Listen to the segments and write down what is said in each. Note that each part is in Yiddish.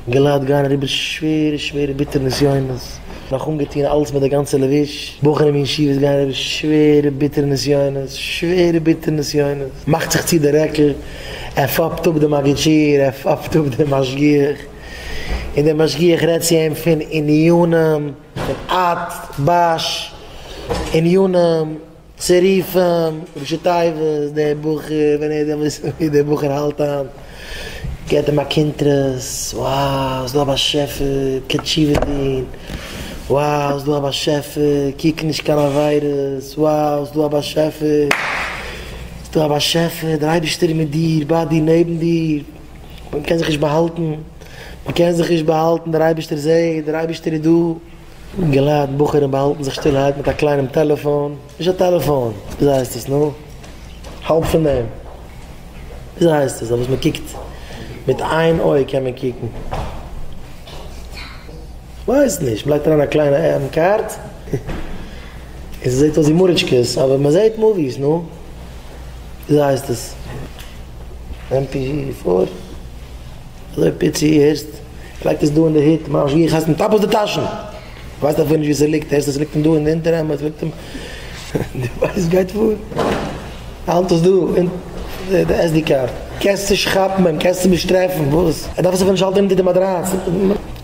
געלייט גייען אריבער שווערע שווערע ביטערע נסיונות, נאך אנגעטוהן אלץ מיט די גאנצע לבוש, בחורים אין ישיבות גייען אריבער שווערע ביטערע נסיונות, שווערע ביטערע נסיונות, מאכט זיך צו די רעקל, ער פאפט אפ די מגיד שיעור, ער פאפט אפ די משגיח, און די משגיח רעדט צו אים פון עניינים, פון אט, בש, עניינים. צו רופן ראשי תיבות דער בחור ווען ער וועט וויסן ווי דער בחור האלט היינט געט אים א קונטרס wow ס'דא א באשעפער קען תשובה טון wow ס'דא א באשעפער קוק נישט קיין עבירות wow ס'דא א באשעפער ס'דא א באשעפער דער אייבערשטער איז מיט דיר ביי דיר נעבן דיר מ'קען זיך נישט באהאלטן מ'קען זיך נישט באהאלטן דער אייבערשטער זעט דער אייבערשטער איז דא. געלייט בחורים באהאלטן זיך שטילערהייט מיט א קליינעם טעלעפאן, נישט א טעלעפאן, וויאזוי הייסט עס נו? האלב פון דעם, וויאזוי הייסט עס דאס וואס מען קוקט מיט איין אויג קען מען קוקן? כ'ווייס נישט, מ'לייגט אריין א קליינע עם קארד און ס'זעט אויס ווי מאריטשקעס אבער מען זעט מאוויס נו, וויאזוי הייסט עס? עם פי פאר? אזוי פיצי הערסט? כ'לייג עס דא אין די היט, ממש ווי איך הייס מיט אפל די טאשן! כ'ווייס אפילו נישט ווי ס'ליגט, הערסט עס ליגט אים דא אין די אונטערעמד, ס'ליגט אים, די ווייסט גייט פאר, האלט עס דא אין די SD קארד, קענסט נישט כאפן אים, קענסט אים נישט טרעפן, וואס? ער דארף עס אפילו נישט האלטן אונטער די מאטראץ,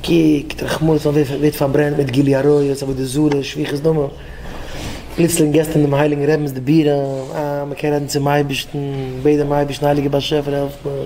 קוקט רחמנות אויף ווער ס'ווערט פארברענט מיט גילוי עריות, עבודה זרה, שפיכות דמים, פלוצלינג געסט אים דעם הייליגן רעבינ'ס די בירעם, אה, מ'קען רעדן צום אייבערשטן, בעט דעם אייבערשטן הייליגער באשעפער העלף מיר.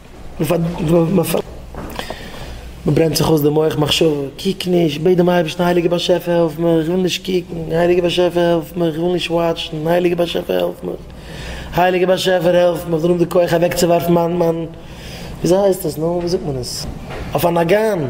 מ'ברענט זיך אויס די מח מחשבה, קוק נישט, בעט דעם אייבערשטן, הייליגער באשעפער העלף מיך, איך וויל נישט קוקן, הייליגער באשעפער העלף מיך, איך וויל נישט וואטשן, הייליגער באשעפער העלף מיך, הייליגער באשעפער העלף מיך, דערום די כח אוועקצואווארפן מיין מיין וויאזוי הייסט עס נו? ווי זאגט מען עס? אויף א נאגאן!